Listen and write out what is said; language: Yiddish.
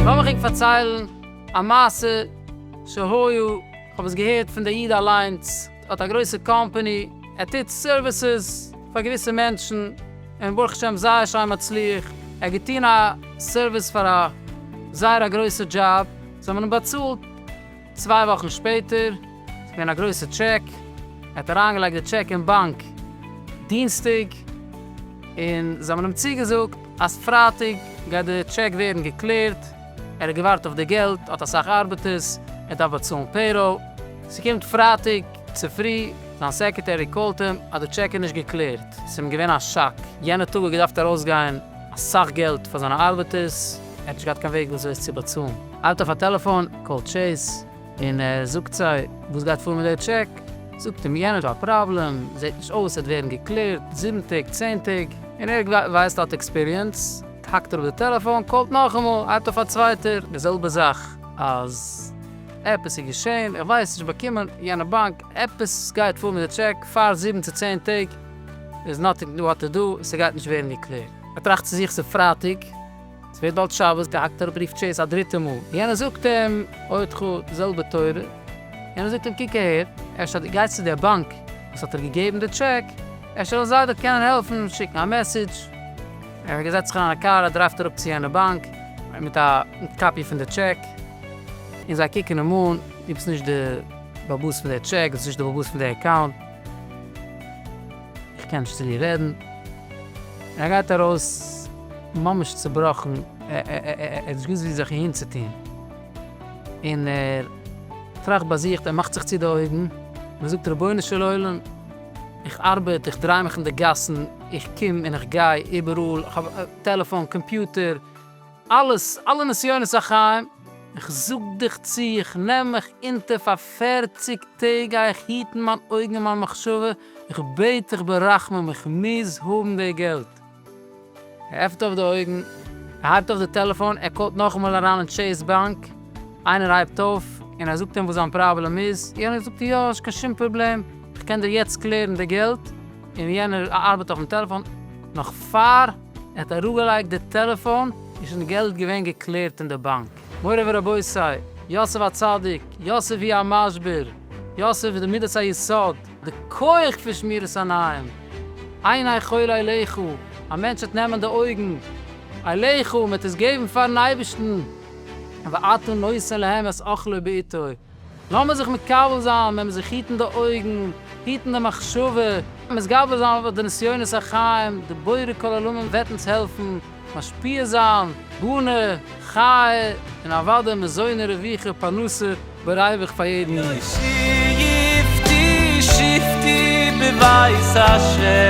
לאמיך ענק פארציילן א מעשה שהיה, כ'האב עס געהערט פון דער איד אליינס, ער האט א גרויסע קאמפאני, ער טוט סערוויסעס פאר געוויסע מענטשן, און ברוך השם זייער שיין מצליח, ער האט געטון א סערוויס פאר א זייער א גרויסע דזשאב, זיי האבן אים באצאלט, צוויי וואכן שפעטער, ס'איז געווען א גרויסע טשעק, ער האט אריינגעלייגט די טשעק אין באנק דינסטאג, און זיי האבן אים צוגעזאגט אז פרייטאג גייט די טשעק ווערן געקלערט, ער האט געווארט אויף די געלט, ער האט אסאך ארבעטערס, ער דארף באצאלן פעיראל. ס'קומט פרייטאג צופרי, זיין סעקרעטערי קאלט אים אז די טשעק איז נישט געקלערט, ס'איז אים געווען א שאק, יענע טאג האט געדארפט ארויסגיין אסאך געלט פאר זיינע ארבעטערס, ער האט נישט געהאט קיין וועג וויאזוי עס צו באצאלן, האלט אויף א טעלעפאן, קאלט טשעיס, און ער זאגט זיי וואס גייט פאר מיט דער טשעק, זאגט אים יענער ס'איז א פראבלעם, זעט נישט אויס עס וועט ווערן געקלערט זיבן טעג, צען טעג, און ער ווייסט ער האט עקספיריענס, האקט ער אפ די טעלעפאן, קאלט נאכאמאל, הייבט אויף א צווייטער, די זעלבע זאך, אז עפעס איז געשען, איך ווייס נישט, באקומען יענע באנק, עפעס גייט פאר מיט די טשעק, פאר זיבן צו צען טעג, איז נאטינג דא, האט ער דא, ס'גייט נישט ווערן געקלערט. ער טראכט צו זיך ס'איז פרייטאג. ס'ווערט באלד שבת, די האקט אראפ ר' טשעיס א דריטע מאל, יענער זאגט אים עוד חו, די זעלבע תורה, יענער זאגט אים קוק אהער, אפשר דו גייסט צו דער באנק וואס האט דיר געגעבן די טשעק, אפשר וועלן זיי דיר קענען העלפן שיקן א מעסעדזש, ער זעצט זיך אריין אין א קאר, ער דרייווט אראפ צו יענע באנק, מיט א קאפי פון די טשעק, און זיי קוקן אים אן, דו ביסט נישט די בעל הבית פון דער טשעק, דו ביסט נישט די בעל הבית פון די אקאונט. איך קען נישט צו דיר רעדן. ער גייט ארויס ממש צעבראכן, ער האט נישט געוואוסט ווי זיך אהין צו טון, און ער טראכט ביי זיך, ער מאכט זיך צו די אויגן, און ער זאגט, רבונו של עולם, איך ארבעט, איך דריי מיך אין די גאסן, איך קום און איך גיי איבעראל, איך האב טעלעפאן, קאמפיוטער, אלעס, אלע נסיונות החיים, איך זאג דיך צו, איך נעם מיך אונטער פאר פֿערציק טעג גיי איך היטן מיין אויגן און מיין מחשבה, איך בעט דיך ברחמים איך מוז האבן די געלט. ער עפנט אויף די אויגן, ער הייבט אויף די טעלעפאן, ער קאלט נאכאמאל אריין אין טשעיס באנק, איינער הייבט אויף און ער זאגט אים וואס זיין פראבלעם איז, יענער זאגט יא נישט קיין שום פראבלעם, איך קען דיר יעצט קלערן די געלט, און יענער ארבעט אויפן טעלעפאן נאך פאר. ער האט אראפגעלייגט די טעלעפאן און שוין די געלט געווען געקלערט אין די באנק. מורי ורבותי, יוסף הצדיק, יוסף היא המשבר, יוסף איז די מידת היסוד, די כח פון שמירת עיניים, עיני כל אליך, א מענטש וועט נעמען די אויגן אליך, מען וועט עס געבן פארן אייבערשטן, ואתו נושא להם את אוכלו בעתו, לאמיר זיך מקבל זיין, מען מוז זיך היטן די אויגן, היטן די מחשבה, מתגבר זיין אויף די נסיונות החיים, דער בורא כל עולמים וועט אונז העלפן, משפיע זיין, בונה, חי, און אוודאי מזוני רווחה, פרנסה ברייבעך פאר יעדן איד. שבתי שבתי בבית ה'.